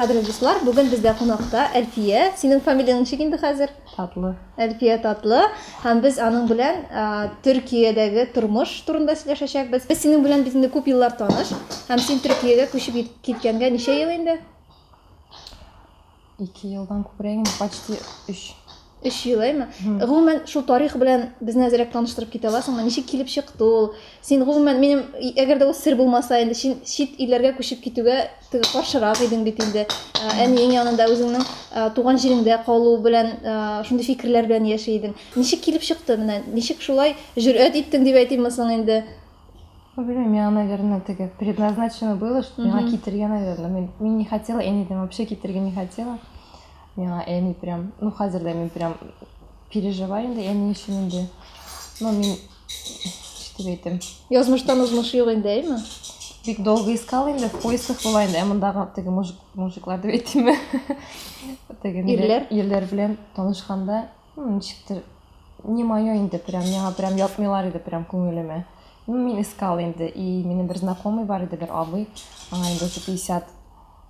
Кадерле дуслар, бүген бездә кунакта Әлфия. Синең фамилияң ничек инде хәзер? Татлы. Әлфия Татлы. Һәм без аның белән Төркиядәге тормыш турында сөйләшәчәкбез. Без синең белән бит инде күп еллар таныш. Һәм син Төркиягә күчеп киткәнгә ничә ел инде? Ике елдан күбрәгме? Почти өч. Өч ел, әйме? Гомумән, шул тарих белән безне әзерәк таныштырып китә аласыңмы? Ничек килеп чыкты ул? Син гомумән минем, әгәр дә ул сер булмаса, инде син чит илләргә күчеп китүгә теге каршырак идең бит инде. Ә, әниең янында үзеңнең ә, туган җиреңдә калу белән, ә, шундый фикерләр белән яши идең. Ничек килеп чыкты менә? Ничек шулай җөрьәт иттең дип әйтимме соң инде? Белмим, наверное, теге предназначено было, что миңа китергә, наверное. Мин, мин не хотела, әни дә вообще китергә не хотела. Миңа әни прям, ну, хәзер дә мин прям переживаю инде әни өчен инде. Но мин, что әйтем. Язмыштан узмыш юк инде, әйме? Бик долго искал инде, в поисках была инде, ә мондагы теге мужик, мужиклар дип әйтимме? Теге ирләр, ирләр белән танышканда, Ну, ничектер, не мое инде, прям, миңа прям ятмыйлар иде, прям күңелемә. Ну, мин искал инде, и минем бер знакомый бар иде, бер абый, аңа инде уже 50,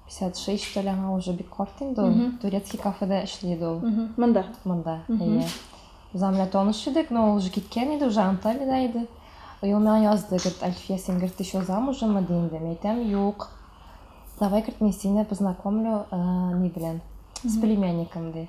56, что ли, аңа уже бик карт инде ул, турецкий кафеда эшли иде ул. Монда? Монда, әйе. Без аңа белән таныш идек, но ул уже киткән иде, уже Анталида иде. И ул миңа язды, говорит, Альфия, син, говорит, еще замужемы, ди инде. Мин әйтәм, юк. Давай, говорит, мин сине познакомлю, э, ни белән, с племянником, ди.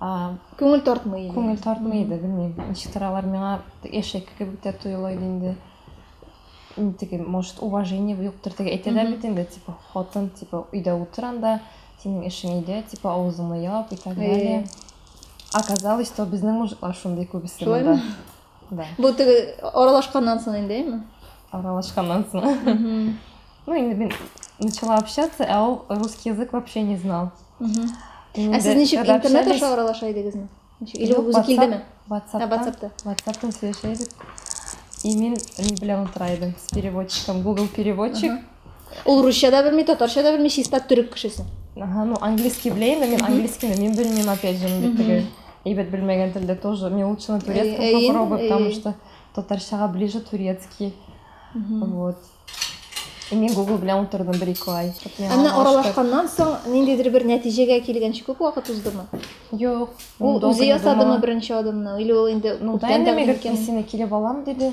Күңел тартмый иде. Күңел тартмый иде, белмим, ничектер алар миңа яшәйке кебек тә тоела иде инде. Теге, может, уважение юктыр, теге әйтәләр бит инде, типа, хатын, типа, өйдә утыр анда, синең эшең өйдә, типа, авызыңны яп и так далее. Оказалось, что безнең мужиклар шундый күбесе монда. да бу теге аралашканнан соң инде әйме аралашканнан соң ну инде мин начала общаться ә ул русский язык вообще не знал ә сез ничек интернет аша аралаша идегезме или ул үзе килдеме ватсапта ватсаптан сөйләшә идек и мин не белән утыра идем с переводчиком google переводчик Ул русча да белми, татарча да белми, чиста төрек кешесе. Ага, ну английский беләйем, мен английский мин белмим опять же, инде теге әйбәт белмәгән телдә тоже. Мин лучше на турецком э, э, попробую, э, потому что татарчага ближе турецкий. Вот. Мин Google белән утырдым бер ике ай. Ә менә аралашканнан соң ниндидер бер нәтиҗәгә килгәнче күп вакыт уздымы? Юк. Ул үзе ясадымы беренче адымны? Или ул инде күптән дә микән? Сине килеп алам диде.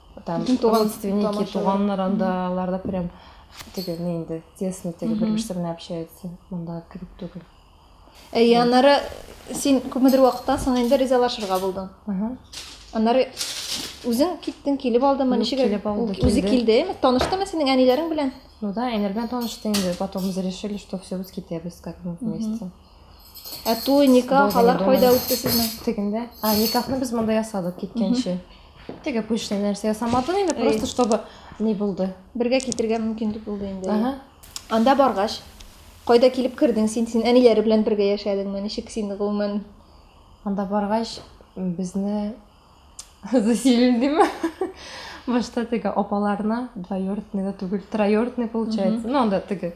там ну, туган родственники туганнар андаларда прям теге не инде тесно теге бер берсе белән общается монда кебек түгел әйе аннары син күпмедер вакыттан соң инде ризалашырга булдың аннары үзең киттең килеп алдымы ничек килеп алды үзе килде таныштымы синең әниләрең белән ну да әниләр белән танышты инде потом мы решили что все без китәбез как мы вместе ә той никах алар кайда үтте сезнең тегендә а никахны без монда ясадык киткәнче Теге пышный нәрсә ясамадың инде, просто чтобы ни булды. Бергә китергә мөмкинлек булды инде. Ага. Анда баргач, кайда килеп кердең син? Син әниләре белән бергә яшәдеңме? Ничек син гомумән? Анда баргач, безне заселили диме? Башта теге апаларны, двоюродныйда түгел, троюродный получается. Ну, анда теге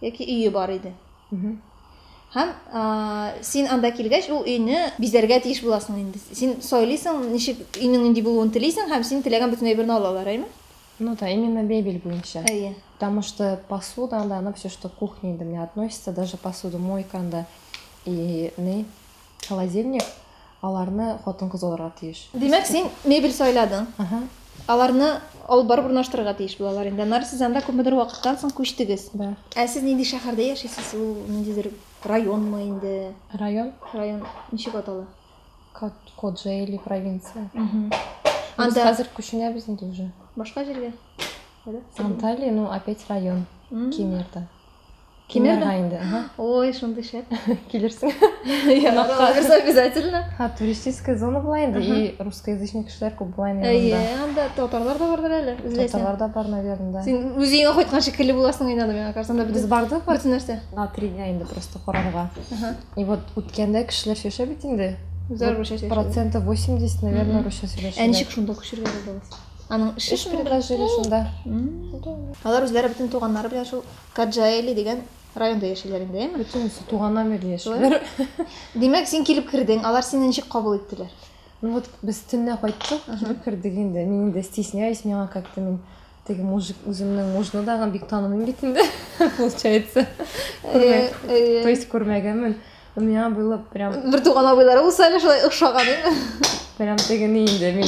яки өе бар иде. Һәм син анда килгәч, ул өйне бизәргә тиеш буласың инде. Син сойлыйсың, ничек өйнең нинди булуын телисең һәм син теләгән бөтен әйберне алалар, әйме? Ну да, именно мебель буенча. Әйе. Потому что посуда, анда, она все, что кухня, да, мне относится, даже посуду, мойка, анда, и, не, Холодильник аларны хатын-кыз алырга тиеш. Димәк, син мебель сайладың. Ага. Аларны алып барып урнаштырырга тиеш булалар инде. Аннары сез анда күпмедер вакыттан соң күчтегез. Да. Ә сез нинди шәһәрдә яшисез? Ул ниндидер районмы инде? Район? Район ничек атала? Коджели провинция. Анда хәзер күченәбез инде уже. Башка җиргә? Анталия, ну опять район. Кемерда. Килермен инде. Ой, шундый шәп. Килерсең. Кунакка бирсә обязательно. Ха, туристическая зона була инде и русскоязычный кешеләр күп була инде. Әйе, анда татарлар да бардыр әле. Татарлар да бар, наверное, да. Син үзеңә кайткан шикелле буласың инде анда миңа карасаң да без бардык. Бөтен нәрсә. На три дня инде просто карарга. И вот үткәндә кешеләр сөйләшә бит инде. Үзләр русча сөйләшә. Процентов 80, наверное, русча сөйләшә. Ә ничек шунда күчергән булдыгыз? Аның эше шуның белән. шунда. Алар үзләре бөтен туганнары белән шул Каджаэли дигән районда яшиләр инде, әйме? Бөтенесе туганнар белән яшиләр. Димәк, син килеп кердең, алар сине ничек кабул иттеләр? Ну вот без төнлә кайттык, килеп кердек инде. Мин инде стесняюсь, миңа как-то мин теге мужик үземнең мужны дагы бик танымыйм бит инде, получается. То есть күрмәгәнмен. У меня было прям... Бертуган абыйлары булса әле шулай охшаган иде. Прям тегене инде мин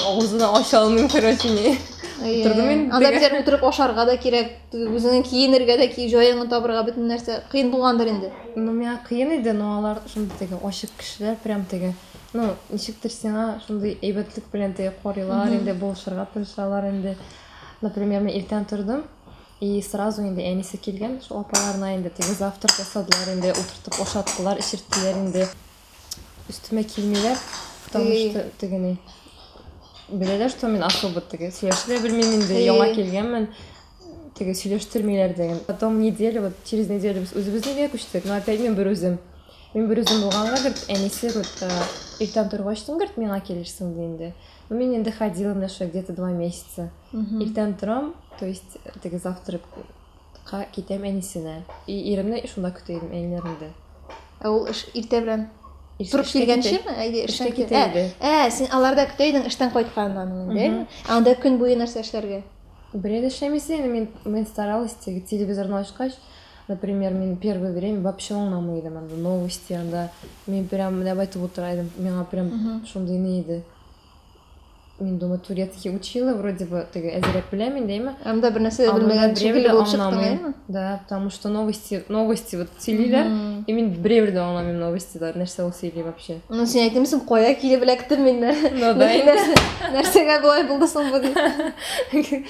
авызын ача алмыйм, короче, ни. Утырдым мин. Анда бер утырып ашарга да кирәк, үзеңне киенергә дә ки, җаеңны табырга бөтен нәрсә кыен булгандыр инде. Ну, миңа кыен иде, но алар шундый теге ачык кешеләр, прям теге, ну, ничектер сиңа шундый әйбәтлек белән теге карыйлар инде, булышырга тырышалар инде. Например, мин иртән тордым, И сразу инде әнисе килгән шул апаларына инде теге завтрак ясадылар инде, утыртып ашаттылар, эчерттеләр инде. Өстемә килмиләр, потому что тегене беләләр, что мин особо теге сөйләшә дә белмим инде, яңа килгәнмен. Теге сөйләштермиләр дә. Потом неделю, вот через неделю без үзебезнеке күчтек, но опять мин берүзем. Мин берүзем булганга гөрт әнисе гөрт иртән торгач, гөрт миңа килерсең ди инде. Ну, мен енді ходила мына шо где-то два месяца. Иртән торам, то есть теге завтракка китәм әнисенә. И иремне шунда көтә идем, әниләрендә. Ә ул эш иртә белән торып килгәнчеме? Әйдә, эшкә китә иде. Ә, син аларда көтә идең эштән кайтканнан инде. Анда көн буе нәрсә эшләргә? Берәр эшләмисең, мен старалась телевизорны ачкач, Например, мин первый время вообще аңламый идем анда новости, анда мин прям менә бу әйтеп утыра идем, миңа прям шундый ни иде. Мин думаю, турецкий учила, вроде бы теге әзрәк беләм инде, әйме? Анда бер нәрсә дә белмәгән шикелле булып чыктың, әйме? Да, потому что новости, новости вот сөйлиләр, и мин берәү дә аңламыйм новостилар, нәрсә ул сөйли вообще. Ну, син әйтмисең, кая килеп эләктем мин нәрсә? Ну да. Нәрсәгә болай булды соң бу дип.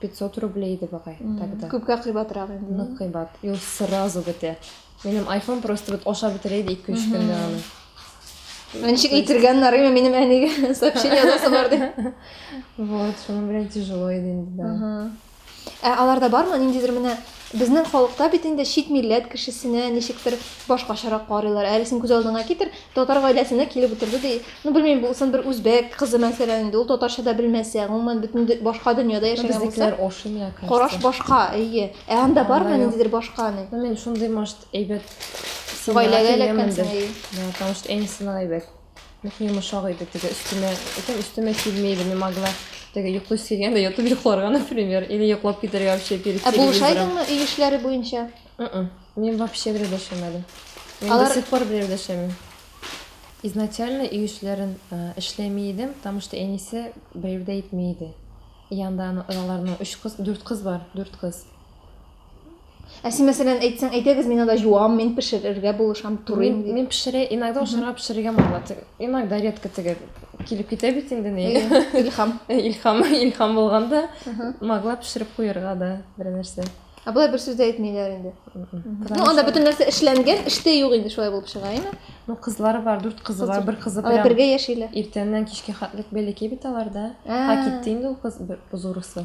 500 рублей иде багай тогда. Күпкә кыйбатрак инде. Нык кыйбат. И ул сразу бетә. Минем iPhone просто вот ашап бетерә иде 2-3 көндә аны. Ничек әйтергә нарыймы минем әнигә сообщение язасы бар дип. Вот, шуның белән тяжело иде инде. Ә аларда бармы ниндидер менә Безнең халыкта бит инде чит милләт кешесенә ничектер башкачарак карыйлар. Әле син күз алдыңа китер, татар гаиләсенә килеп утырды ди. Ну, белмим, булсын бер үзбәк кызы мәсәлән инде, ул татарча да белмәсә, гомумән бөтен башка дөньяда яшәгән булса. Безнекеләр ошый миңа кажется. Караш башка, әйе. Ә анда бармы ниндидер башка ни? Ну, мин шундый, может, әйбәт. Гаиләгә эләккәнсең, әйе. Да, потому что әнисе генә әйбәт. Нык йомышак иде теге өстемә, әйтәм өстемә килми иде, не могла. Теге йоклый сөйгән дә ятып йокларга, например, или йоклап китәргә вообще перед Ә телевизором. булышайдыңмы өй эшләре буенча? М-м. Мин вообще бер дәшәмәдем. Мин Алар- до сих пор бер дәшәмим. Изначально өй эшләрен э, эшләми идем, потому что әнисе берәү дә итми иде. Янда аны- аларның өч кыз, дүрт кыз бар, дүрт кыз. Ә син, мәсәлән, әйтсәң, әйдәгез, мин анда җуам, мин пешерергә булышам, турыйм. Мин, мин пешерә, иногда ашарга пешерергә мала. Иногда редко теге килеп китә бит инде ни. Илхам. Илхам, илхам булганда могла пешереп куярга да бер нәрсә. Ә болай бер сүз дә әйтмиләр инде. Ну, анда бөтен нәрсә эшләнгән, эштә юк инде шулай булып чыга, әйме? Ну, кызлары бар, дүрт кызы бар, бер кызы прям. Бергә яшиләр. Иртәннән кичкә хәтлек бәләкәй бит аларда. Ә китте инде ул кыз бозурысы.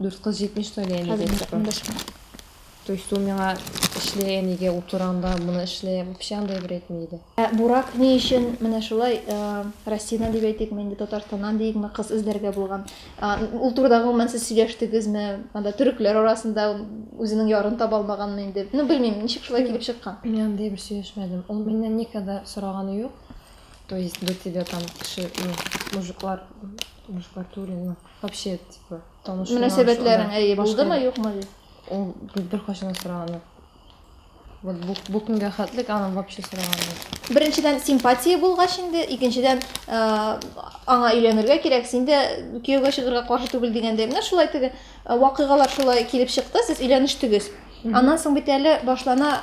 Дүрт кыз җитмеш тә әле әнигә эш куй. То есть ул миңа эшле әнигә утырам да, моны эшле, вообще андый бер әйтми иде. Ә Бурак ни өчен менә шулай Россиянән дип әйтикме инде, Татарстаннан диикме, кыз эзләргә булган? Ул турыда гомумән сез сөйләштегезме? Анда төрекләр арасында үзенең ярын таба алмаганмы инде? Ну, белмим, ничек шулай килеп чыккан? Мин андый бер сөйләшмәдем. Ул миннән никогда сораганы юк. То есть до тебя там кеше, мужиклар, мужиклар түгел, Вообще, типа, танышуың. Мөнәсәбәтләрең әйе булдымы, юкмы? Ул бер кашына сораганы. Вот бу, бу көнгә хәтлек аны вообще сораганы. Беренчедән симпатия булгач инде, икенчедән э, аңа өйләнергә кирәк, син дә кияүгә чыгарга каршы түгел дигәндә, менә шулай теге э, вакыйгалар шулай килеп чыкты, сез өйләнештегез. Аннан соң бит әле башлана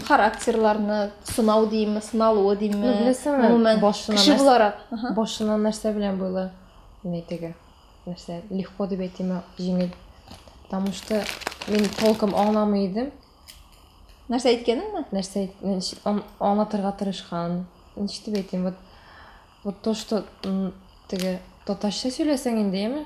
характерларны сынау димме, сыналуы димме? Ну, беләсеңме, башына кеше нәрсә, буларак. Башына нәрсә белән буйлы? Менә теге нәрсә легко дип әйтимме, җиңел. Потому что мин толком аңламый идем. Нәрсә әйткәнеңме? Нәрсә аңлатырга тырышкан. Ничек дип әйтим, вот вот то, что теге татарча сөйләсәң инде, яме?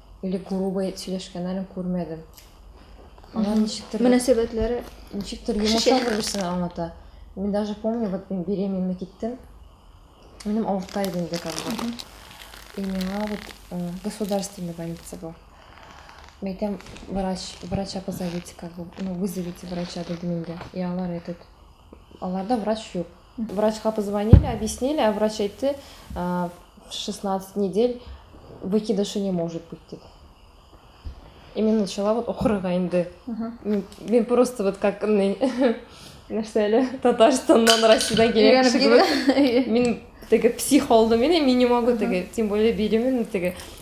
Или грубо сөйләшкәннәрен күрмәдем. Алар ничектер мөнәсәбәтләре ничектер йомшак бер-берсенә аңлата. Мин даже помню, вот мин беременна киттем. Минем авырта иде инде как бы. И миңа вот э, государственный больница был. Мен әйтәм, врач, врача позовите, как бы, ну, вызовите врача, дедім инде. И алар этот, аларда врач юк. Врачка позвонили, объяснили, а врач әйтте, 16 недель выкидышы не может быть, дип. И мен начала вот оқырга инде. Мен просто вот как нәрсә әле Татарстаннан, Россиядан килгән кеше кебек. Мин теге псих алдым, мин не могу теге, тем более беременна теге.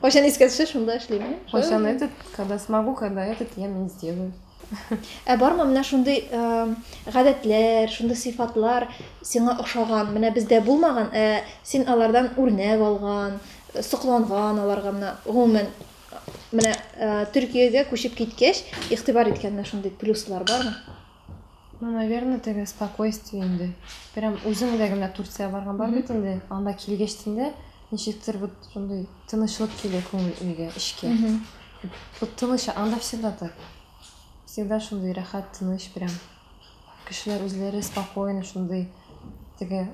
Кайчан искә төшә, шунда эшлим. Кайчан этот, когда смогу, когда этот я не сделаю. Ә бармы менә шундый гадәтләр, шундый сыйфатлар сиңа ошаган, менә бездә булмаган, ә син алардан үрнәк алган, сокланган аларга менә гомумән менә Төркиягә күчеп киткәч, игътибар иткән менә шундый плюслар бармы? Ну, наверное, теге спокойствие инде. Прям үзеңдә генә Турция барган бар бит инде. Анда килгәч инде ничектер вот шундый тынычлык килә күңел өйгә, эчкә. Вот тыныч, анда всегда так. Всегда шундый рәхәт, тыныч прям. Кешеләр үзләре спокойно шундый теге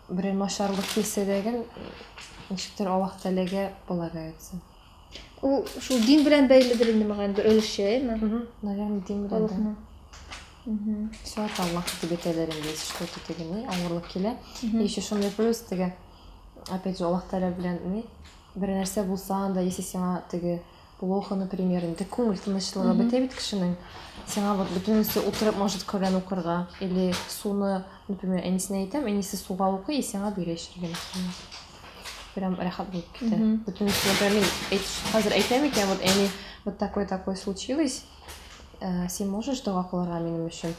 берәр начарлык килсә дә гел ничектер Аллаһ Тәгаләгә полагаются. Ул шул дин белән бәйледер инде мага бер өлеше, әйме? Наверное, дин белән. Халыкның. Суат Аллах дип әйтәләр инде, если что-то теге ни, авырлык килә. Еще шундый плюс теге, опять же, Аллах Тәгалә белән ни, бер нәрсә булса анда, если сиңа теге плохо, например, инде күңел тынычлыгы бетә бит кешенең. Сиңа вот бөтенесе утырып может Коръән укырга или суны, например, әнисенә әйтәм, әнисе суга укый и сиңа бирә эчәргә. прям рәхәт булып китә бөтен нәрсә мин хәзер әйтәм икән вот әни вот такой такой случилось э, син можешь дога кылырга минем өчен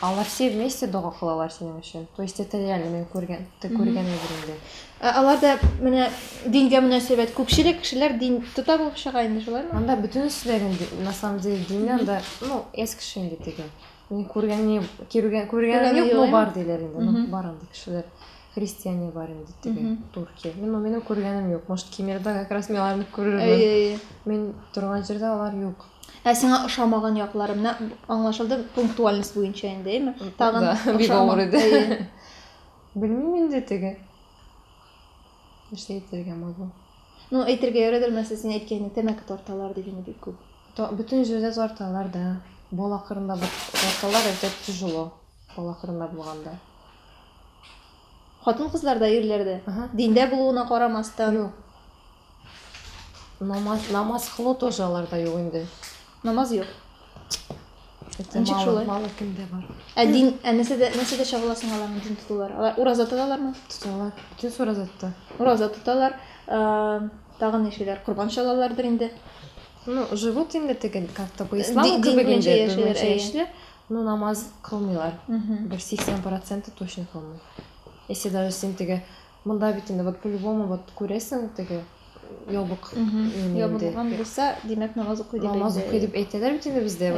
алар все вместе дога кылалар синең өчен то есть это реально мен күргән күргән әйбер инде ә аларда менә дингә мөнәсәбәт күпчелек кешеләр дин тота булып чыга инде шулаймы анда бөтенесе дә на самом деле дин анда ну эс кеше инде теге Ни күргән, ни киргән, күргән юк бу бар диләр инде. Ну, бар инде кешеләр. Христиане бар инде теге Туркия. Мин моны минем күргәнем юк. Может, Кемерда как раз мин аларны күрермен. Әй, әй. Мин торган җирдә алар юк. Ә сиңа ошамаган яклары менә аңлашылды пунктуальность буенча инде, әйме? Тагын бик авыр иде. Белмим инде теге. Нәрсә әйтергә могу? Ну, әйтергә ярыйдыр, нәрсә син әйткәнең, тәмәке тарталар дигәне бик күп. Та, бөтен җирдә тарталар да. Бала кырында тарталар, это тяжело. Бала кырында булганда. Хатын кызларда, ирләрдә. Ага. Диндә булуына карамастан. Юк. Намаз, намаз кылу тоже аларда юк инде. Намаз юк. Ничек шулай? Мало кемдә бар. Ә дин, ә нәрсәдә, нәрсәдә чагыласың аларның дин тотулар? Алар ураза тоталармы? Тоталар. Бөтен ураза тота. Ураза тоталар. Тагын ни эшлиләр? Корбан чалалардыр инде. Ну, живут инде тегел, как-то по исламу кебек инде. Яшиләр, Ну, намаз кылмыйлар. Бер 80% точно кылмый. Если даже син теге Монда бит инде вот по-любому вот күрәсең теге ябык. Ябылган булса, димәк намаз укый дип. Намаз укый дип әйтәләр бит инде бездә.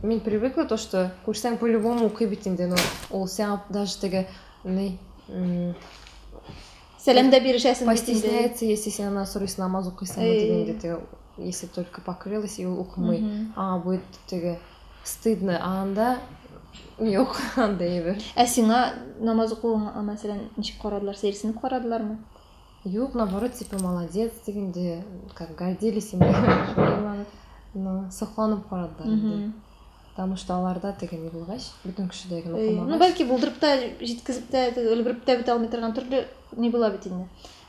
Мин привыкла то, что күрсәң по-любому укый бит инде, но ул сиңа даже теге ни Сәлам да бирешәсең. Постесняется, если синнән сорыйсы намаз укыйсыңмы дигәндә теге если только покрылась и ул укымый аңа будет теге стыдно а анда юк андай әйбер ә сиңа намаз укуыңа мәсәлән ничек карадылар сәерсенеп карадылармы юк наоборот типа молодец дегендей как гордились ими но сокланып карадылар инде потому что аларда теге не булгач бөтен кешедә генә укымагач ну бәлки булдырып та җиткезеп тә өлгереп тә бетә алмый торган төрле не була бит инде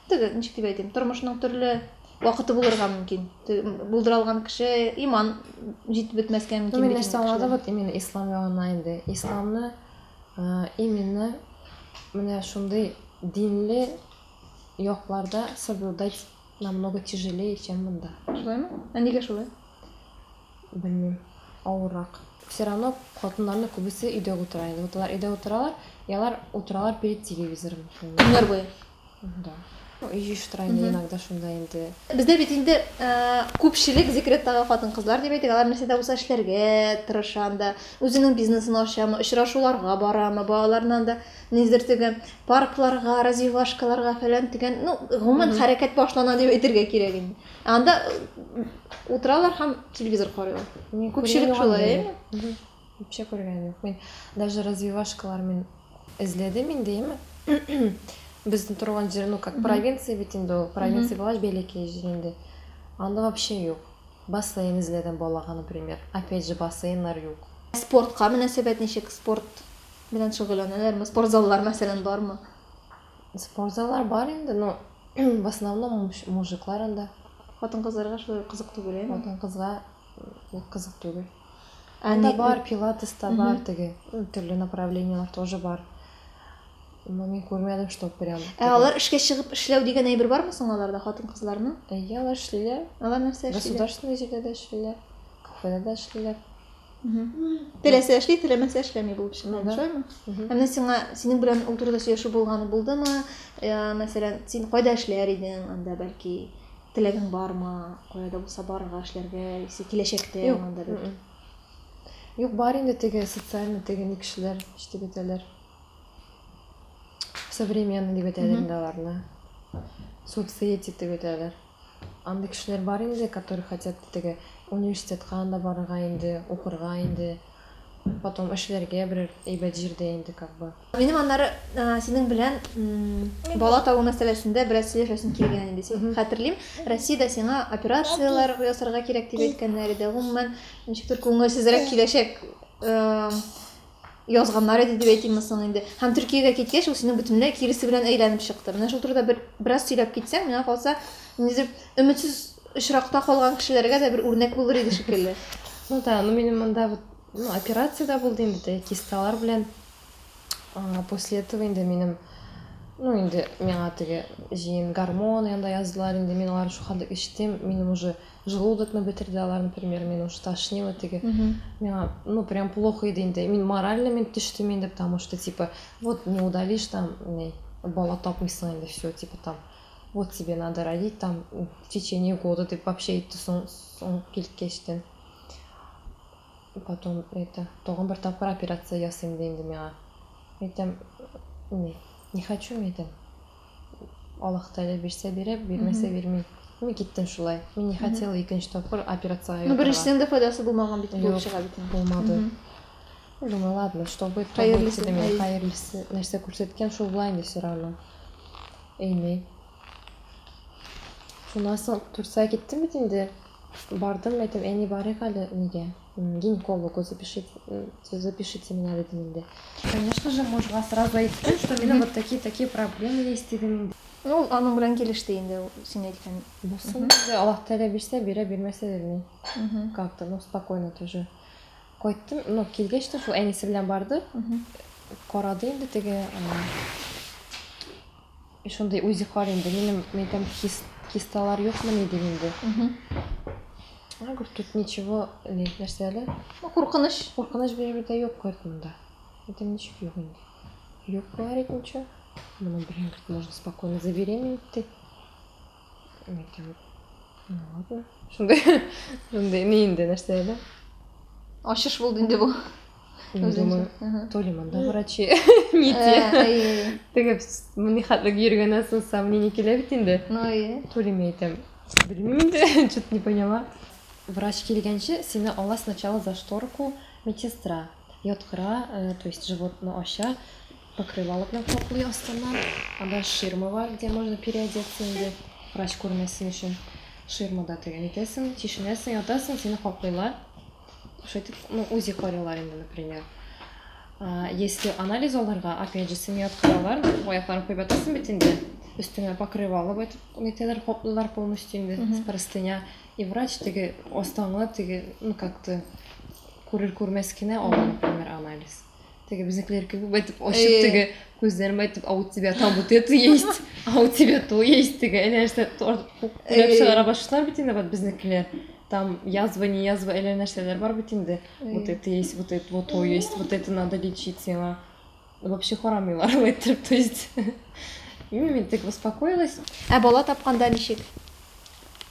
Теге, ничек дип әйтим, тормышның төрле вакыты булырга мөмкин. Булдыра алган кеше иман җитеп бетмәскә мөмкин. Мин нәрсә аңладым, вот именно ислам ягына инде. Исламны именно менә шундый динле якларда соблюдать намного тяжелее, чем монда. Шулаймы? Ә нигә шулай? Белмим. Авыррак. Все равно хатыннарны күбесе өйдә утыра инде. Вот алар өйдә утыралар, ялар утыралар перед телевизором. Көннәр буе. Да. Ну, и штранде иногда шунда инде. Бездә бит инде күпчелек декреттагы хатын-кызлар дип әйтик, алар нәрсәдә булса эшләргә тырыша анда, үзенең бизнесын ачамы, очрашуларга барамы, балаларына анда низдер теге паркларга, развивашкаларга фәлән дигән, ну, гомумән хәрәкәт башлана дип әйтергә кирәк инде. Анда утыралар һәм телевизор карыйлар. Күпчелек шулай, әйеме? Үпчә күргән юк. Мин даже развивашкалар мин эзләдем инде, яме. Безнең торган җир, ну как провинция бит инде ул. Провинция булгач бәләкәй җир инде. Анда вообще юк. Бассейн эзләдем балага, например. Опять же, бассейннар юк. Спортка мөнәсәбәт ничек? Спорт белән шөгыльләнәләрме? Спорт заллар мәсәлән бармы? Спорт заллар бар инде, но в основном мужиклар анда. Хатын-кызларга шулай кызык түгел, яме. Хатын-кызга кызык түгел. Анда бар, пилатес та бар, теге төрле направлениелар тоже бар. Мо мин күрмәдем, что прям. Ә алар эшкә чыгып эшләү дигән әйбер бармы соң аларда хатын-кызларның? Әйе, алар эшлиләр. Алар нәрсә эшлиләр? Государственный җирдә дә эшлиләр, кафеда да эшлиләр. Теләсә эшли, теләмәсә эшләми булып чыга, шулаймы? Ә менә сиңа синең белән ул турыда сөйләшү булганы булдымы? Мәсәлән, син кайда эшләр идең анда, бәлки, Теләгең бармы, кая да булса барырга, эшләргә, яисә киләчәктә Юк. монда бер? Юк, бар инде теге социальный теге ни кешеләр, ничек дип әйтәләр. Современный дип әйтәләр инде аларны. Соцсети дип әйтәләр. Андый кешеләр бар инде, которые хотят теге университетка анда барырга инде, укырга инде. Потом эшләргә берәр әйбәт җирдә инде как бы. Минем аннары синең белән бала табу мәсьәләсендә бераз сөйләшәсем килгән инде. Син хәтерлим, Россиядә сиңа операцияләр ясарга кирәк дип әйткәннәр иде. Гомумән, ничектер күңелсезрәк киләчәк язганнар иде дип әйтимме соң инде. Һәм Төркиягә киткәч, ул синең бөтенләй киресе белән әйләнеп чыкты. Менә шул турыда бер бераз сөйләп китсәң, миңа калса, ниндидер өметсез очракта калган кешеләргә дә бер үрнәк булыр иде шикелле. Ну да, ну минем монда вот Ну, операция да булды инде, теге кисталар белән. А, после этого инде минем, ну, инде миңа теге җыен гормон янда яздылар, инде мин алар шул хәлдә эчтем, минем уже желудокны бетерде алар, например, мин уже тошнило теге. Миңа, ну, прям плохо иде инде. Мин морально мин төштем инде, потому что, типа, вот не удалишь там, не, бала тапмыйсың инде, все, типа, там, вот тебе надо родить там в течение года, дип вообще әйтте соң, соң килткәчтен. И потом это, тагын бер тапкыр операция ясыйм ди инде миңа. Әйтәм, не, не хочу мин әйтәм. Аллаһ Тәгалә бирсә бирә, бирмәсә бирми. Мин киттем шулай. Мин не хотела икенче тапкыр операциягә Ну, ятарга. беренчесенең дә файдасы булмаган бит, булып Юк, чыга бит. инде. булмады. Мгм. Ну, Думаю, ладно, что будет, то будет, Хәерлесе, дидем. әй. Хәерлесе нәрсә күрсәткән, шул була инде все равно. Әйни. Шуннан соң Турция киттем бит инде. Бардым, әйтәм, әни, барыйк әле нигә, гинекологу запишите, запишите меня, дидем инде. Конечно же, мужга сразу әйттем, что минем вот такие-такие проблемы есть, дидем инде. Ну, ул аның белән килеште инде, ул син әйткән. Булсын, диде, Аллаһ Тәгалә бирсә, бирә, бирмәсә, бирми. Как-то, ну, спокойно тоже. Кайттым, ну, килгәч тә шул әнисе белән барды, карады инде теге, И шундый үзе кар инде. Минем мәйтәм кис, кисталар юкмыни дим инде. А, говорит, тут ничего, не, нәрсә әле? Ну, куркыныч. Куркыныч беребер дә юк, говорит, монда. Мәйтәм, ничек юк инде? Юк, говорит, ничего. Моның белән, говорит, можно спокойно забеременеть, ди. Шундый, шундый, ни инде, нәрсә әле? Ачыш булды инде бу. Үземчә. То ли монда врачи, ни те. Теге ни хәтле йөргәннән соң сомнение килә бит инде. Ну и. То ли мен әйтәм. Белмим инде, что-то не поняла. Врач килгәнче сине ала сначала за шторку медсестра. Яткыра, э, то есть животны ача, Покрывало белән каплый астыннан. Анда ширма бар, где можно переодеться инде. Врач күрмәсен өчен. Ширмада тегән итәсең, чишенәсең, ятасың, сине каплыйлар. Шайтып, ну, УЗИ карыйлар инде, например. А, если анализ алырга, опять же, сине яткыралар, аякларын куеп ятасың бит инде. Өстеңә покрывало бит, нитәләр каплыйлар полностью инде, с простыня. И врач теге астаңы, теге, ну, как-то, күрер-күрмәс кенә алар, например, анализ. Теге безнекеләр кебек әйтеп ачып теге күзләрен әйтеп, а у тебя там вот это есть, а у тебя то есть теге әле нәрсә күләп чыгара башлар бит инде безнекеләр. Там язва, не язва, әле нәрсәләр бар бит инде. Вот это есть, вот это, вот то есть, вот это надо лечить сиңа. Вообще харамыйлар әйтеп, то есть. Мин тек успокоилась. Ә бала тапканда ничек?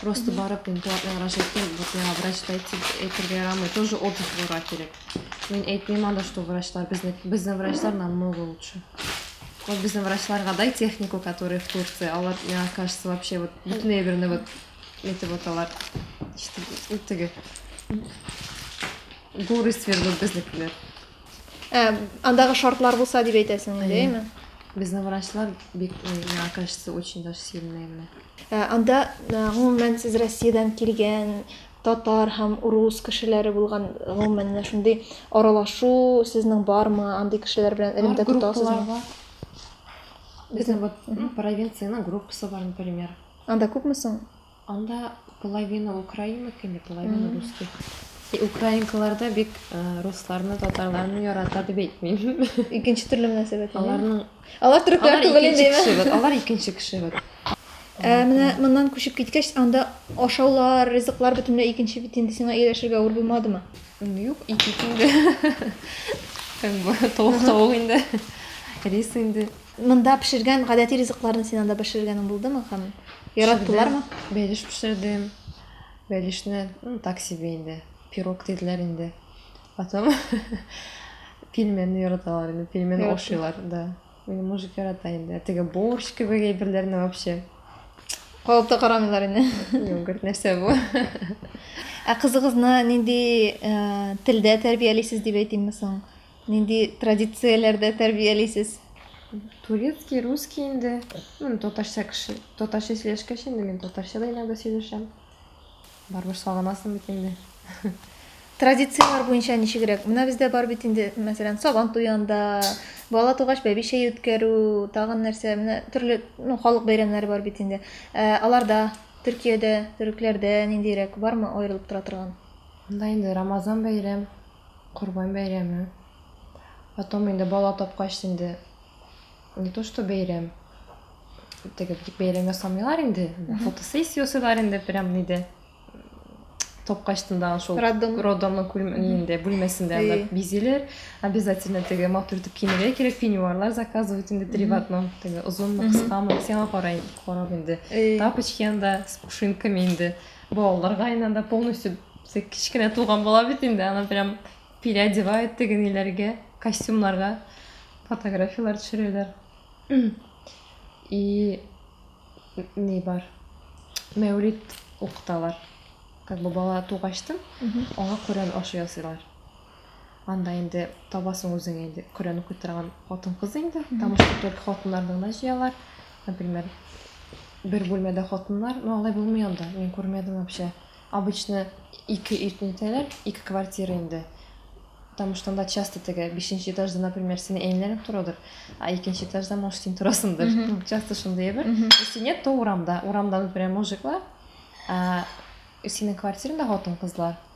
Просто барып мин платный врач әйтте, вот миңа врачта әйтергә ярамый, тоже опыт булырга кирәк. Мин әйтмим анда, что врачлар, безнең, безнең врачлар намного лучше. Вот безнең врачларга дай технику, которые в Турции, алар, мне кажется, вообще вот бөтенләй берне вот эти вот алар, что, теге, горы свернут безнекеләр. Ә, андагы шартлар булса дип әйтәсең инде, Әйе. әйме? Безнең врачлар бик, э, миңа кажется, очень даже сильные генә. Ә, Анда, ә, гомумән, сез Россиядән килгән татар һәм урус кешеләре булган, гомумән, менә шундый аралашу сезнең бармы? Андый кешеләр белән Бар элемтә группалар тотасызмы? бар. Безнең вот, ну, провинциянең группасы бар, например. Анда күпме соң? Анда половина украинок инде, половина русских. И украинкалар да бик русларны, татарларны ярата дип әйтмим. Икенче төрле мөнәсәбәт. Аларның Алар төрекләр түгел инде. Алар икенче кеше бит. Ә менә моннан күчеп киткәч, анда ашаулар, ризыклар бөтенләй икенче бит инде сиңа ияләшергә авыр булмадымы? Юк, икенче инде. Как бы толык тавык инде. Рис инде. Монда пешергән гадәти ризыкларны син анда пешергәнең булдымы һәм яраттылармы? Пешердем, бәлеш пешердем. Бәлешне, ну, так себе инде, пирог диделәр инде. Потом пельменны яраталар инде, пельмен Яратты. ашыйлар, да. Минем мужик ярата инде. Теге борщ кебек әйберләрне вообще. Калыпта карамыйлар инде. Юк, говорит, нәрсә бу? Ә кызыгызны нинди э, телдә тәрбиялисез дип әйтимме соң? Нинди традицияләрдә тәрбиялисез? Турецкий, русский инде. Ну, татарча кеше. Татарча сөйләшкәч инде мин татарча да иногда сөйләшәм. Барыбер сагынасың бит инде. Традицияләр буенча ничегрәк? Менә бездә бар бит инде, мәсәлән, сабан туянда, бала тугач бәбичә үткәрү, тагын нәрсә, менә төрле, ну, халык бәйрәмнәре бар бит инде. Ә, аларда, Төркиядә, төрекләрдә ниндирәк, бармы аерылып тора торган? Монда инде Рамазан бәйрәм, Корбан бәйрәме. Потом инде бала тапкач инде не то что бәйрәм. Теге бик бәйрәм ясамыйлар инде. Фотосессия ясыйлар инде прям ниде. Тапкачтында шул Роддом. роддомның күлмәгендә бүлмәсендә Әйе. анда бизиләр. Обязательно теге матур итеп киенергә кирәк, пеньюарлар заказывать инде три в одном. Теге озынмы, кыскамы, сиңа карай карап инде. Әйе. Тапочки анда с пушинками инде. Балаларга инде анда полностью бізге кечкенә туган бала бит инде, аны прям переодевает тегенеләргә, костюмнарга фотографияләр төшерәләр. И ни бар? Мәүлид укыталар. Как бы бала тугачтын, аңа Коръән ашы ясыйлар. Анда инде табасың үзең инде Коръән укый торган хатын-кыз инде. Там уж только хатыннарны гына җыялар. Например, бер бүлмәдә хатыннар, ну алай булмый анда. Мин күрмәдем вообще. Обычно ике өйне итәләр, ике квартира инде. Потому что анда часто теге бишенче этажда, например, синең әниләрең торадыр, а икенче этажда, может, син торасыңдыр. Ну, часто шундый әйбер. Если нет, то урамда. Урамда, например, мужиклар, ә синең квартираңда хатын-кызлар.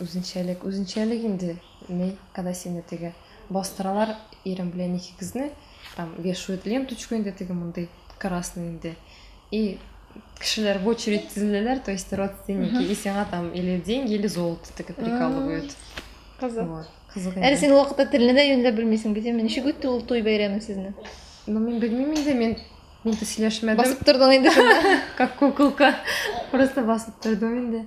Үзенчәлек, үзенчәлек инде ни, когда сине теге бастыралар, ирем белән икегезне, там вешают ленточку инде теге мондый красный инде. И кешеләр в очередь тезеләләр, то есть родственники, и сиңа там или деньги, или золото теге прикалывают. Кызык. Вот. Кызык инде. Әле син ул вакытта телне дә юньләп белмисең бит, әмма ничек үтте ул туй бәйрәме сезне? Ну, мин белмим инде, мин мин дә сөйләшмәдем. Басып тордың инде шунда. Как куколка. Просто басып тордым инде.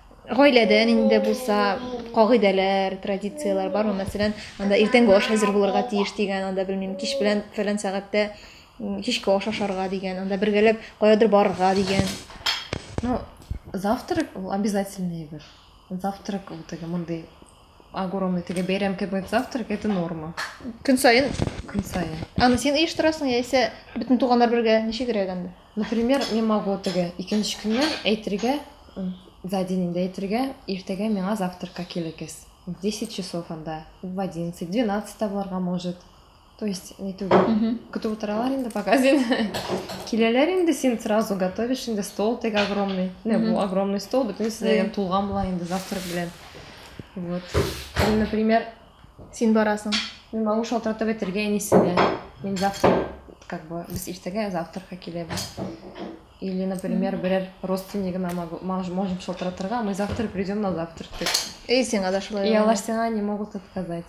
Гаиләдә нинди булса кагыйдәләр, традицияләр бармы? Мәсәлән, анда иртәнге аш әзер булырга тиеш дигән, анда белмим, кич белән фәлән сәгатьтә кичке аш ашарга дигән, анда бергәләп каядыр барырга дигән. Ну, завтрак ул обязательный бер. Завтрак ул теге мондый огромный теге бәйрәм кебек завтрак это норма. Көн саен. Көн саен. Аны син оештырасың яисә бөтен туганнар бергә ничегрәк анда? Например, мин могу теге икенче көннән әйтергә, за день инде әйтергә, иртәгә миңа завтракка килегез. В 10 часов анда, в 11, 12 та булырга может. То есть, не түгел. Көтеп утыралар инде, пока син киләләр инде, син сразу готовишь инде, стол теге огромный. Не, бу огромный стол, бөтенесе дә тулган була инде завтрак белән. Вот. Или, например, Син барасың. Мин малыш шалтыратып әйтергә әнисенә. Мин завтра, как бы, без иртәгә, завтракка киләбез. Или, например, берәр родственнигына могу, мож- можем шалтыратырга, мы завтра придем на завтрак. дип. И сиңа да шулай. И алар сиңа не могут отказать.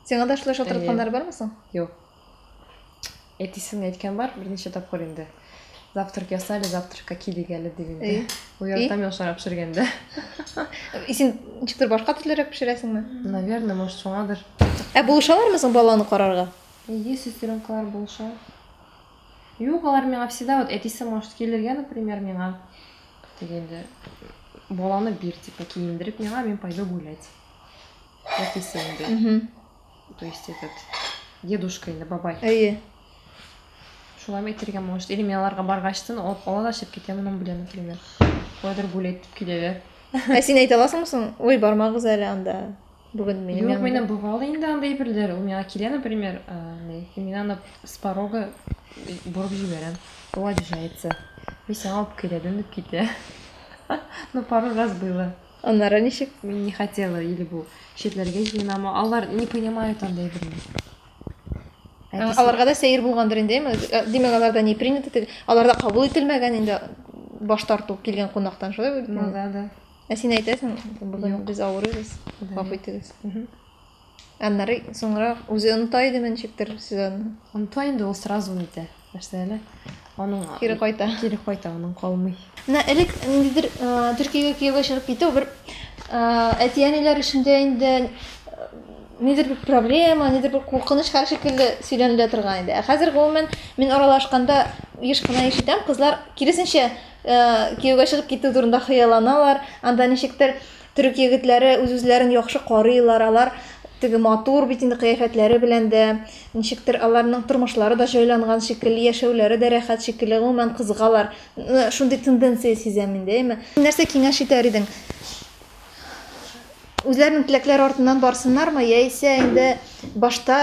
Сиңа да шулай шалтыратканнары бармы соң? Юк. Әтисен әйткән бар, берничә тапкыр инде. Завтрак ясали, завтракка килик әле дип инде. Уяртам яшара пешергәндә. Син ничектер башка төрлерәк пешерәсеңме? Наверное, может, шуңадыр. Ә булышалармы соң баланы карарга? Ие, сестренкалар булыша. Юк, алар миңа всегда вот әтисе может килергә, например, миңа дигәндә баланы бир, типа, киендереп миңа, мин пойду гулять. Әтисе инде. То есть этот дедушка инде бабай. Әйе. Шулай мәйтергә может. Или мин аларга баргачтын алып ала да чыгып китә моның белән, например. Кайдыр гулять дип киләләр. Ә син әйтә аласыңмы соң? Ой, бармагыз әле анда. Бүген минем Юк, янымда. минем бывало инде андай берләр. Ул миңа килә, например, а, не, и мин аны с порога борып җибәрәм. Ул обижается. Мин сиңа алып киләдем дип китә. Ну, пару раз было. Аннары ничек не хотела или бу читләргә җыенамы? Алар не понимают андай берни. Ә, аларга да сәер булгандыр инде, әйме? Э, димәк, аларда не принято, тел- аларда кабул ителмәгән инде баш тарту килгән кунактан, шулай бит? Ну да, да. Ә син әйтәсең, бүген без авырыйбыз, Гафу итегез. Мгм. Аннары соңрак үзе оныта идеме ничектер сезонны? Оныта инде, ул сразу нитә, нәрсә әле? Аның кире кайта. Кире кайта, аның калмый. Менә элек ниндидер Төркиягә кияүгә чыгып китү бер әти-әниләр эчендә инде нидер бер проблема, нидер бер куркыныч хәл шикелле сөйләнелә торган иде. Ә хәзер гомумән мин аралашканда еш кына ишетәм, кызлар киресенчә кияүгә чыгып китү турында хыялланалар, анда ничектер Төрек егетләре үз-үзләрен яхшы карыйлар, алар теге матур бит инде кыяфәтләре белән дә, ничектер аларның тормышлары да җайланган шикелле, яшәүләре дә рәхәт шикелле, гомумән кызыгалар. Шундый тенденция сизәм мин дә, әйме? Нәрсә киңәш итәр идең? Үзләренең теләкләре артыннан барсыннармы, яисә инде башта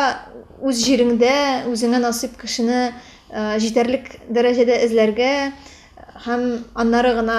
үз җиреңдә үзеңә насыйп кешене җитәрлек дәрәҗәдә эзләргә һәм аннары гына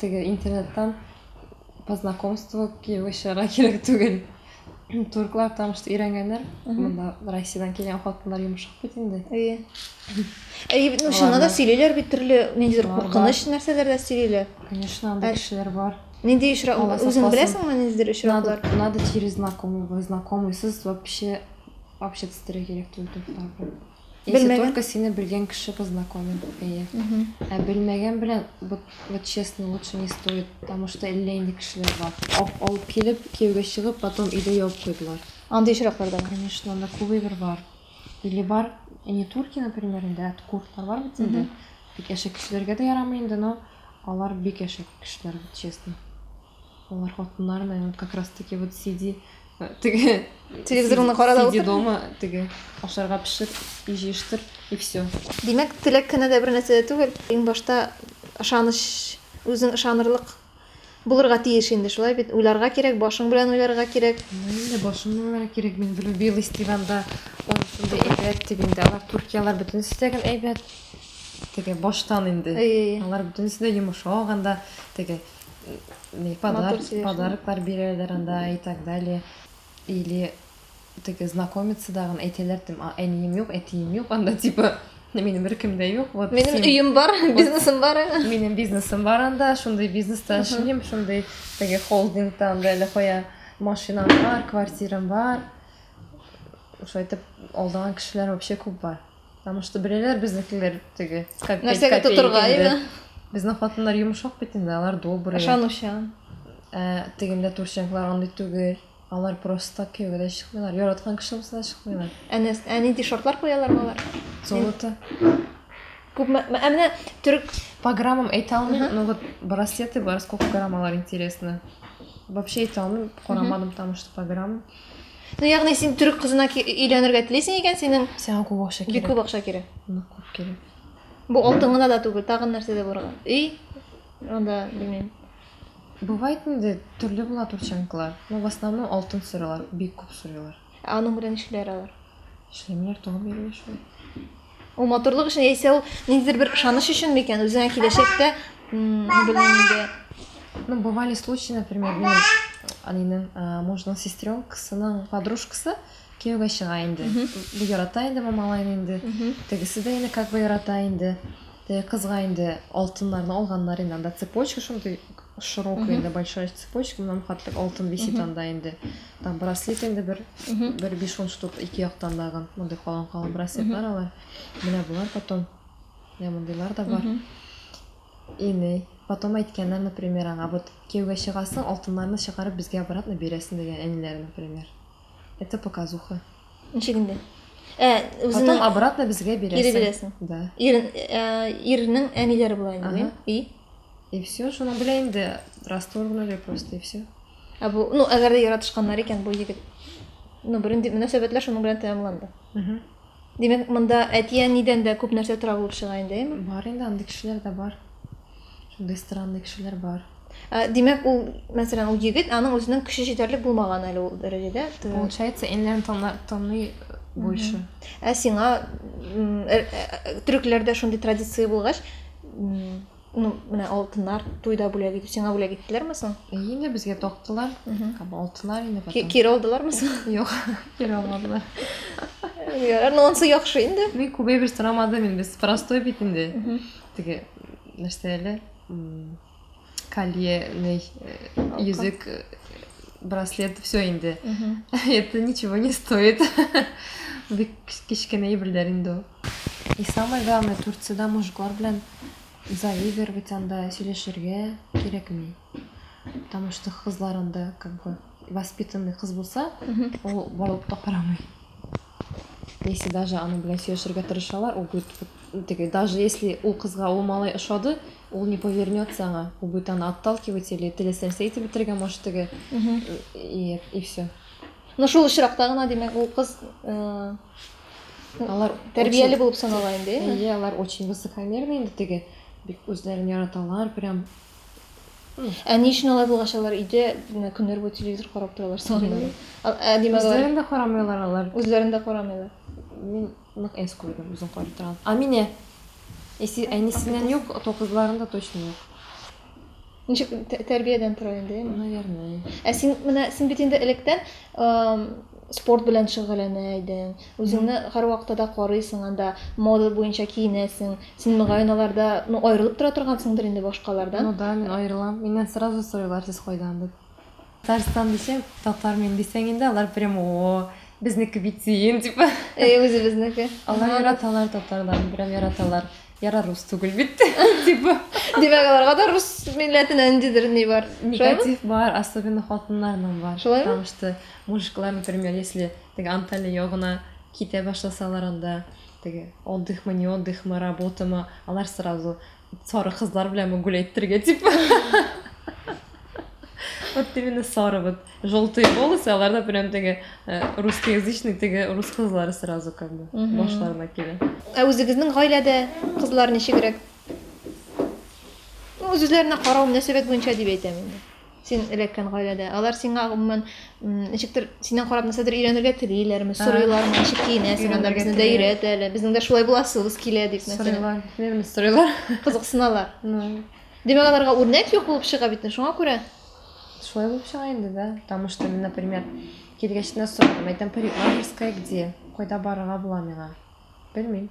Теге интернеттан по знакомству кияүгә чыгарга кирәк түгел. Турклар там что өйрәнгәннәр. Монда Россиядән килгән хатыннар йомшак бит инде. Әйе. Әйе бит, ну шуны да сөйлиләр бит төрле ниндидер куркыныч нәрсәләр дә сөйлиләр. Конечно, анда кешеләр бар. Нинди очрак, үзең беләсеңме ниндидер очраклар? Надо через знакомого, знакомый, сез вообще общаться итәргә кирәк түгел турклар белән. Если Белмәгән. только сине белгән кеше познакомит, әйе. Ә белмәгән белән, вот, вот честно, лучше не стоит, потому что әллә инде кешеләр бар. Ап, алып килеп, кияүгә чыгып, потом өйдә ябып куйдылар. Андый очраклар да бар. Конечно, анда күбебер бар. Или бар, не турки, например, инде, ә курдлар бар бит инде. Бик әшәк кешеләргә дә ярамый инде, но алар бик әшәк кешеләр, вот честно. Алар хатыннар, наверное, как раз таки вот сиди теге телевизорны карап сиди дома теге ашарга пешер и җыештыр и все димәк теләк кенә дә бер нәрсә дә түгел иң башта ышаныч үзең ышанырлык булырга тиеш инде шулай бит уйларга кирәк башың белән уйларга кирәк инде башым белән уйларга кирәк мин влюбилась дип анда шундай әйбәт дип инде алар туркиялар бөтенесе дә гел әйбәт теге баштан инде алар бөтенесе дә йомшак анда теге подарок, подароклар бирәләр анда и так далее. Или теге знакомиться дагын әйтәләр, тем, әнием юк, әтием юк, анда типа минем беркем дә юк. Вот минем син... өем бар, бизнесым бар. Минем бизнесым бар анда, шундый бизнеста эшлим, шундый теге холдингта анда әле кая машинам бар, квартирам бар. Шайтып алдаган кешеләр вообще күп бар. Потому что беләләр безнекеләр теге. Нәрсәгә тотырга иде? Безнең хатыннар йомшак бит инде, алар добрый. Ышанучан. Ә тегендә турченклар андый түгел. Алар просто кияүгә дә чыкмыйлар. Яраткан кеше булса да чыкмыйлар. Ә нәрсә, ә нинди шартлар куялар алар? Золото. Күпме, ә менә төрек по граммам әйтә алмыйм, но вот браслеты бар, сколько грамм алар интересно. Вообще әйтә алмыйм, карамадым, потому что по граммам. Ну, ягъни син төрек кызына өйләнергә телисең икән, синең Сиңа күп акча бик кирәк. күп акча кирәк. Нык күп кирәк. Бу алтын гына да түгел, тагын нәрсә дә барган. Өй, анда, белмим. Бывает инде төрле була турчанкалар. Но в основном алтын сорыйлар, бик күп сорыйлар. Ә аның белән нишлиләр алар? Эшләмиләр, туган бирелә шулай. Ул матурлык өчен яисә ул ниндидер бер ышаныч өчен микән? Үзеңә киләчәктә, белмим инде. Ну, бывали случаи, например, минем әнинең мужның сестренкасының подружкасы кияүгә чыга инде. Ярата инде Мамалайны инде. Тегесе дә инде как бы ярата инде. Теге кызга инде алтыннарны алганнар инде, анда цепочка шундый широкая инде, большая цепочка, моннан хаттык алтын висит анда инде. Там браслет инде бер, бер биш он штук ике яктан дагы, мондый калын калын браслетлар алар. Менә болар потом, менә мондыйлар да бар. Иней, потом әйткәннәр, например, аңа, вот кияүгә чыгасың, алтыннарны чыгарып безгә обратно бирәсең дигән әниләре, например. Это показуха. Ничек инде? Ә, үзенең... Потом обратно безгә бирәсең. Ире бирәсең. Да. Ир, ә, ирнең әниләре була инде, ага. и? И все, шуны белә инде, расторгнули просто, и все. Ә бу, ну, әгәр дә яратышканнар икән, бу егет, ну, беренди мөнәсәбәтләр шуның белән тәмамланды. Угу. Димәк, монда әти-әнидән дә күп нәрсә тора булып чыга инде, әйеме? Бар инде, андый кешеләр дә бар. Шундый странный кешеләр бар. Ә, Димәк, ул, мәсәлән, ул егет, аның үзенең көче җитәрлек булмаган әле ул дәрәҗәдә. Т- Получается, энләрен тана- таный больше. Ә сиңа м, э, э, төрекләрдә шундый традиция булгач, м, Ну, менә алтыннар туйда бүләк итү сиңа бүләк иттеләрме соң? Инде безгә тактылар. Һәм алтыннар инде потом. Кире алдылармы соң? Юк, кире алмадылар. Ярар, ну ансы яхшы инде. Мин күбәй бер сорамадым инде, без простой бит инде. Теге нәрсә әле? Колье, ней, язык, э, браслет, все инде. Это ничего не стоит. Бик кечкенә әйберләр инде ул. И самое главное, Турциядә мужиклар белән заигрывать анда, сөйләшергә кирәкми. Потому что кызлар анда как бы воспитанный кыз булса, ул борылып та карамый. Если даже аны белән сөйләшергә тырышалар, ул будет теге, даже если ул кызга ул малай ошады, ул не повернется аңа, ул будет аны отталкивать или теләсә нәрсә итеп бетергә может теге. И, и все. Ну шул очракта гына, димәк, ул кыз э, Алар тәрбияле булып санала инде. Әйе, алар очень высокомерный инде теге бик үзләрен яраталар, прям Ә ни өчен алай булгач алар өйдә көннәр буе телевизор карап торалар соң? Ә димәк, үзләрен дә карамыйлар алар. Үзләрен дә карамыйлар. Мин нык эс куйдым, үзен карый торам. А менә әнисеннән юк, то кызларында точно юк. Ничек тәрбиядән тора инде, наверное. Ә син менә син бит инде электән спорт белән шөгыльләнә идең. Үзеңне һәрвакытта да карыйсың анда, мода буенча киенәсең. Син мөгаен аларда, ну, аерылып тора торгансыңдыр инде башкалардан. Ну да, мин аерылам. Миннән сразу сорыйлар, сез кайдан дип. Татарстан дисәң, татар мин дисәң инде, алар прям о, безнеке бит сөен, типа. Әй, үзебезнеке. Алар яраталар татарларны, прям яраталар. Яра рус түгел бит, типа. Димәк, аларга да рус милләтенә ниндидер ни бар. Негатив бар, особенно хатыннарның бар. Шулаймы? Потому что мужиклар, например, если теге Анталия ягына китә башласалар анда, теге отдыхмы, не отдыхмы, работамы, алар сразу Сары кызлар белән мы гулять бергә дип. Вот именно сары вот желтые волосы, аларда прям теге э, русскоязычный теге рус кызлары сразу как бы башларына килә. Ә үзегезнең гаиләдә кызлар ничегрәк? Ну, үзләренә карау мөнәсәбәт буенча дип әйтәм инде. Син эләккән гаиләдә. Алар сиңа гомумән ничектер синнән карап нәрсәдер өйрәнергә телиләрме, сорыйлармы, ничек киенәсең, анда безне дә өйрәт әле, безнең дә шулай буласыбыз килә дип нәрсә. Сорыйлар, бирмис сорыйлар. Кызыксыналар. Димәк, аларга үрнәк юк булып чыга бит, шуңа күрә. Шулай булып чыга инде, да. Потому что, например, килгәч кенә сорадым, әйтәм, парикмахерская где? Кайда барырга була миңа? Белмим.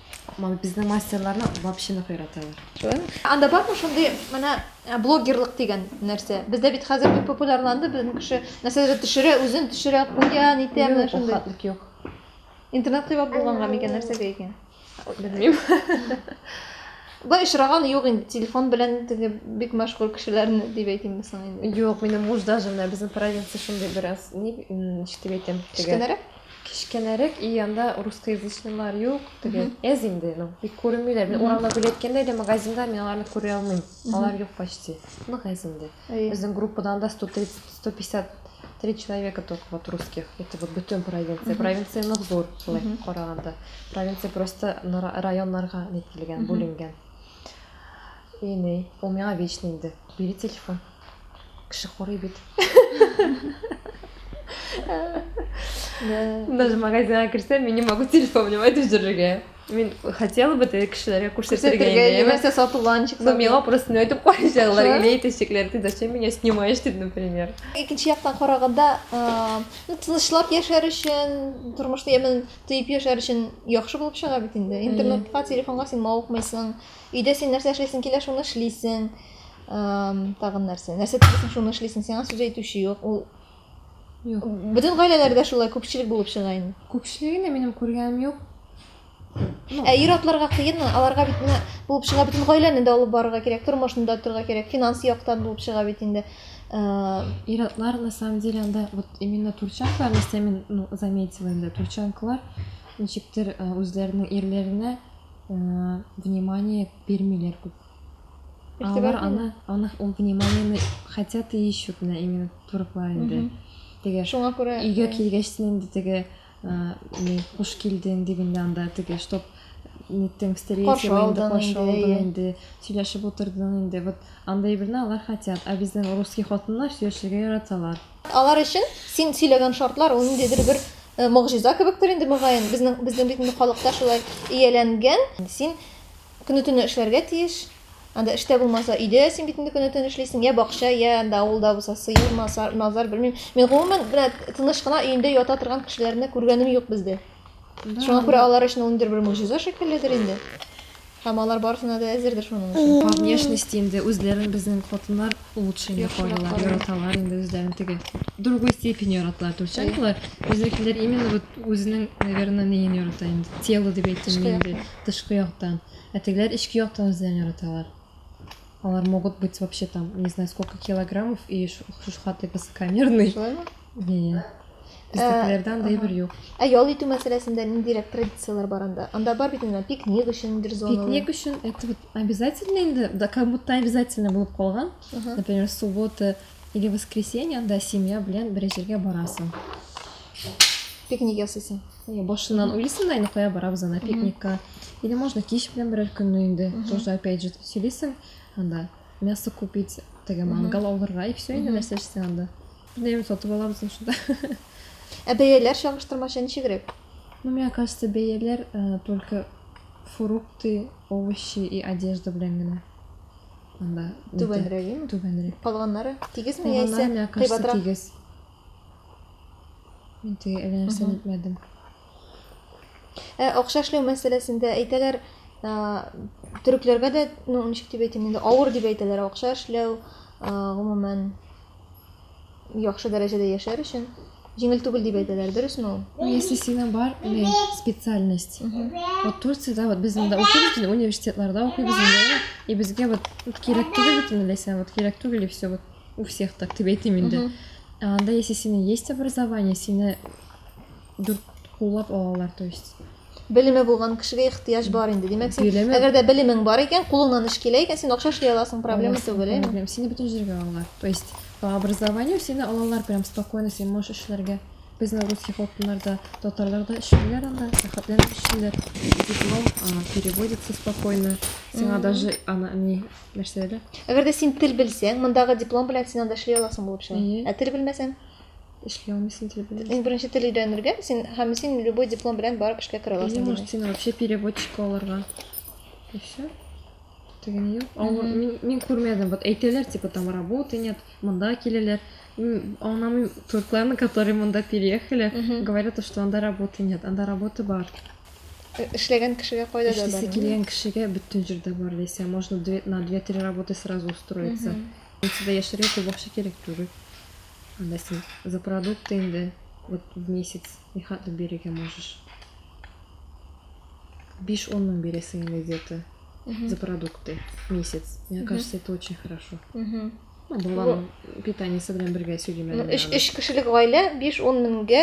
Мама, безнең мастерларны вообще яраталар. Шулаймы? Анда бармы шундый менә э, блогерлык дигән нәрсә? Бездә бит хәзер бик популярланды, безнең кеше нәрсәдер төшерә, үзен төшерә, куя, нитә, менә шундый. Хәтлек юк. Интернет кыйбат булганга микән нәрсәгә икән? Белмим. Былай очраган юк инде, телефон белән теге бик мәшгуль кешеләрне дип әйтимме соң инде. Юк, минем муж даже менә безнең провинция шундый бераз, ни, м, ничек дип әйтәм, теге. Кечкенәрәк? Кечкенәрәк и анда русскоязычныйлар юк теге әз инде ну бик күренмиләр мин урамда гүли әйткәндә дә магазинда мин аларны күрә алмыйм алар юк почти нык әз инде безнең группадан да сто тридцать сто пятьдесят три человека только вот русских это вот бөтен провинция провинция нык зур былай караганда провинция просто районнарга нетелгән бүленгән и ни ул миңа вечно инде бери телефон Кеше курый бит. Даже магазинга керсәм, мин не могу телефон внимать җөрергә. Мин хотела бы теге кешеләргә күрсәтергә инде. Яисә сатуланчик. Ну, миңа просто әйтеп куячаклар, или әйтәчәкләр, ты зачем меня снимаешь, дип, например. Икенче яктан караганда, ну, тынычлап яшәр өчен, тормышны яман тыеп яшәр өчен яхшы булып чыга бит инде. Интернетка, телефонга син мавыкмыйсың. Өйдә син нәрсә эшлисең килә, шуны эшлисең. Тагын нәрсә? Нәрсә телисең, шуны эшлисең. Сиңа сүз әйтүче юк. Ул Юк. Бөтен гаиләләрдә шулай күпчелек булып чыга инде. Күпчелегенә минем күргәнем юк. Ә ир атларга кыен, аларга бит менә булып чыга бит гаиләне дә алып барырга кирәк, тормышны да торырга кирәк, финанс яктан булып чыга бит инде. Э, ир атлар на самом деле анда вот именно турчанкалар, если мин ну, заметила инде, турчанкалар ничектер э, үзләренең ирләренә э, внимание бирмиләр күп. А алар аны, аны ул вниманиены хотят и ищут на именно туруклар инде. Теге Шуңа күрә өйгә килгәч син инде теге ни хуш килдең дигәндә анда теге чтоб ниттең встреча инде каршы алдың инде сөйләшеп утырдың инде вот андай берне алар хотят а безнең русский хатыннар сөйләшергә яраталар алар өчен син сөйләгән шартлар ул ниндидер бер могҗиза кебектер инде мөгаен безнең безнең бит инде халыкта шулай ияләнгән син Көне-төне эшләргә тиеш. Анда эштә булмаса, өйдә син бит инде көне-төн эшлисең, я бакча, я анда авылда булса сыер, мазар, мазар, белмим. Мин гомумән менә тыныч кына өендә ята торган кешеләрне күргәнем юк бездә. Шуңа күрә алар өчен ул ниндидер бер могҗиза шикелледер инде. Һәм алар барысына да әзердер шуның өчен. По внешности инде үзләрен безнең хатыннар лучше инде Яхшырак карыйлар, карыйлар. яраталар инде үзләрен теге. Другой степени яраталар, турчанкалар. Безнекеләр именно вот үзенең, наверное, неен ярата инде, тело дип әйтимме Эшкә инде. тышкы яктан, ә тегеләр эчке яктан үзләрен яраталар. Алар могут быть вообще там, не знаю, сколько килограммов и шушхаты высокомерный. Шулаймы? Иә. Бездәкеләрдән дә бер юк. Ә ял итү мәсьәләсендә ниндирәк традицияләр бар анда? Анда бар бит инде пикник өчен бер зона. Пикник өчен это вот обязательно инде, да как будто обязательно булып калган. Например, суббота или воскресенье анда семья белән бер җиргә барасың. Пикник ясыйсың. Э, башыннан уйлыйсың да инде кая барабыз ана пикникка или можно кич белән берәр көнне инде тоже опять же сөйлисең анда мясо купить теге мангал алырга и все инде нәрсә эчсең анда бернәрсә сатып алабыз шунда ә бәяләр чагыштырмача ничегрәк ну мне кажется бәяләр э, только фрукты овощи и одежда белән генә анда түбәнрәк түбәнрәк калганнары тигезме яисә кыйбатрак тигез Мин теге әллә нәрсәне әйтмәдем. Ә акча эшләү мәсьәләсендә әйтәләр, төрекләргә дә, ну, ничек дип әйтим, инде авыр дип әйтәләр акча эшләү, гомумән яхшы дәрәҗәдә яшәр өчен җиңел түгел дип әйтәләр, дөресме ул? Ну, если сиңа бар, не специальность. Вот Турциядә вот без инде укыйбыз, инде университетларда укыйбыз инде, и безгә вот кирәк түгел бит инде ләйсән, вот кирәк түгел и все вот. у всех так дип әйтим инде анда если синең есть образование сине дүрт куллап алалар то есть белеме булган кешегә ихтыяҗ бар инде димәк син белеме... әгәр дә белемең бар икән кулыңнан эш килә икән син акча эшли аласың проблема түгел әйме сине бөтен җиргә алалар то есть по образованию сине алалар прям спокойно син можешь эшләргә безнең русский хатыннарда татарлар да эшлиләр анда рәхәтләнеп эшлиләр диплом переводится спокойно сиңа даже ана не нәрсә әле әгәр дә син тел белсәң мондагы диплом белән син анда эшли аласың булып чыга ә тел белмәсәң эшли алмыйсың тел белән иң беренче тел өйрәнергә син һәм син любой диплом белән барып эшкә керә аласың или может сине вообще переводчик алырга и все деген юк авыр мин, мин күрмәдем вот әйтәләр типа там работы нет монда киләләр анам туркларны которые монда переехали говорят что анда работы нет анда работа бар Эшләгән кешегә кайда да бар. Эшлисе килгән кешегә бөтен җирдә бар дисә, можно на 2-3 работы сразу устроиться. Институтта яшьләргә күп акча кирәк түгел. Анда син за продукты инде вот в месяц ни хәтле бирергә можешь. 5-10 мең бирәсең инде где-то за продукты в месяц. Мне кажется, это очень хорошо. Баланың питаниесе белән бергә сөйлим әле. Өч, өч кешелек гаилә 5-10 меңгә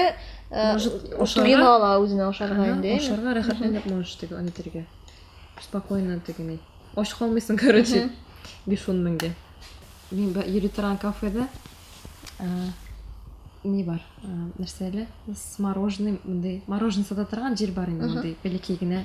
туена ала үзенә ашарга инде. Ашарга рәхәтләнеп можешь теге аны итәргә. Спокойно тегене. Ач калмыйсың, короче. 5-10 меңгә. Мин йөри торган кафеда не бар. Нәрсә әле? С мороженым, мондый мороженое сата торган җир бар инде мондый, бәләкәй генә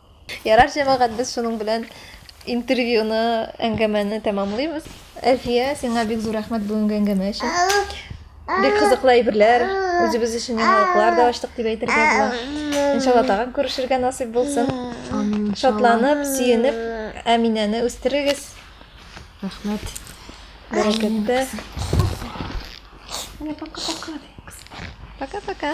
Ярар, җәмәгать, без шуның белән интервьюны, әңгәмәне тәмамлыйбыз. Әлфия, сиңа бик зур рәхмәт бүгенге әңгәмә өчен. Бик кызыклы әйберләр, үзебез өчен яңалыклар да ачтык дип әйтергә була. Иншалла тагын күрешергә насыйп булсын. Амин. Шатланып, сөенеп, Әминәне үстерегез. Рәхмәт. Бәрәкәттә. Пока-пока.